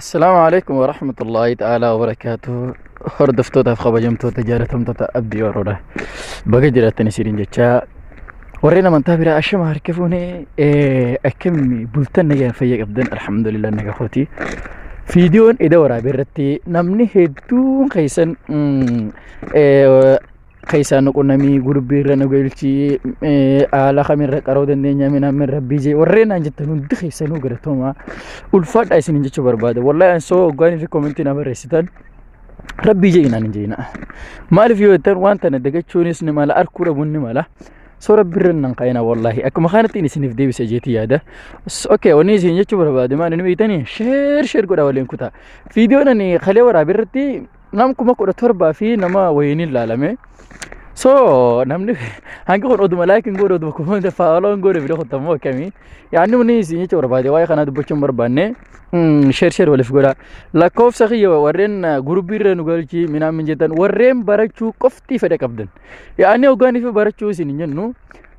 Assalaamu alaikum wa rahmatullahi ta'ala wa barakaatu. Hordoftootaaf kabajamtoota jaalatamtoota abdii waroodha. Baga jiraattan isiniin jechaa warreen amantaa biraa ashama harka fuune akkamni bultan nagaa fayya qabdan alhamdulillah naga kooti. Viidiyoon eda waraabee irratti namni hedduun keessan keessaa nu qunnamii gurbii irra nu galchii haala kamirra qaroo dandeenya minaamin rabbii jee warreen naan jettan hundi keessa nu galatoomaa ulfaadha isin jechuu barbaada wallahi an soo oggaanii fi koomentii na barreessitan rabbii jee inaan hin jeena maaliif yoo jettan waan tana dagachuunis ni mala arkuu dhabuun ni mala soo rabbi irra nan qaina wallahi akkuma kanattiin isiniif deebisa jeetii yaada okay wanni isin jechuu barbaade maal inni beektanii sheer sheer godha waliin kutaa viidiyoon ani kalee waraabirratti nam kuma kudha torbaa fi nama wayiiniin laalame. So namni hangi kun oduma like hin godhe oduma comment follow hin godhe video kutan moo akkamii yaanni muni isin jecha barbaade waa'ee kanaa dubbachuu hin barbaanne share share waliif godha lakkoofsa kiyya warreen gurubbii irra nu galchii minaan min jettan warreen barachuu qofti fedha qabdan yaanni hoggaanii fi barachuu isin hin jennu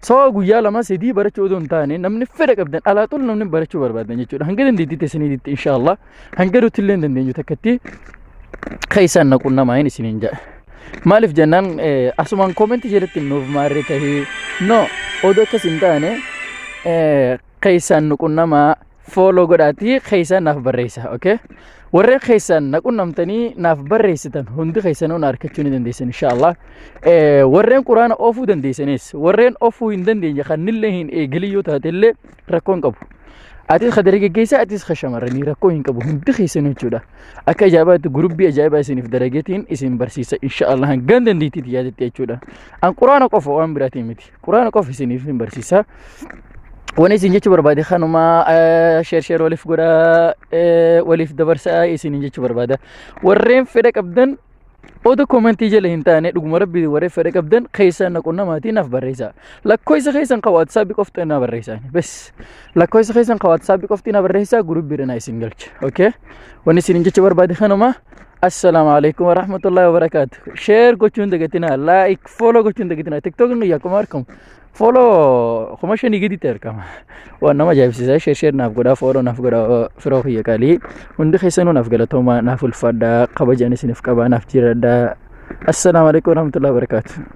so guyyaa lama sadii barachuu odoo hin taane namni fedha qabdan alaa xul namni barachuu barbaadan jechuudha hanga dandeettiitti isiniitti inshaallah hanga nuti illee hin dandeenyu takkatti keessaan na qunnamaa hin isiniin jedha. Maaliif jennaan eh, asumaan koomentii jedhetti nuuf maarree tahee no odoo akkas hin taane eh, keessaan nu qunnamaa fooloo godhaatii keessaan naaf barreessa okay? Warreen keessaan na qunnamtanii naaf barreessitan hundi keessanuu na argachuu ni dandeessan inshaallah. Eh, Warreen quraana oofuu dandeessanis warreen oofuu hin dandeenye kan nillee hin eegalii yoo taate illee rakkoo hin qabu. Atis ka dargaggeessaa atis ka shamarranii rakkoo hin qabu hundi keessanuu jechuudha. Akka ajaa'ibaatti gurubbii ajaa'ibaa isiniif dalageetiin isin barsiisa insha Allah hangaan dandeettiitti yaadatte jechuudha. An quraana qofa waan biraatiin miti. Quraana qofa isiniif hin barsiisa. Wani isin jechuu barbaade kanuma sheer sheer waliif godhaa waliif dabarsaa isiniin jechuu barbaada. Warreen fedha qabdan Oda komentii jala hin taane dhuguma rabbii waree fedha qabdan keessaan na qunnamaatii naaf barreessaa. Lakkoofsa keessan ka WhatsApp qofti na barreessaa. Bes lakkoofsa keessan ka WhatsApp qofti na barreessaa gurubbiidha na isin galcha. Okay? Wanni isin jecha barbaade kanuma. Assalaamu alaikum warahmatullahi wabarakaatu. Share gochuun dagatinaa, like, follow gochuun dagatinaa. TikTok nu yakkuma argamu. Fooloo kuma shanii gaditti argama. Waan nama ajaa'ibsiisaa sheer sheer naaf godhaa fooloo naaf godhaa firoo kiyya qalii. Hundi keessanuu naaf galatoomaa naaf ulfaadhaa kabajaan isiniif qabaa naaf jiradhaa. Assalaamu alaikum warahmatullahi wabarakatuh.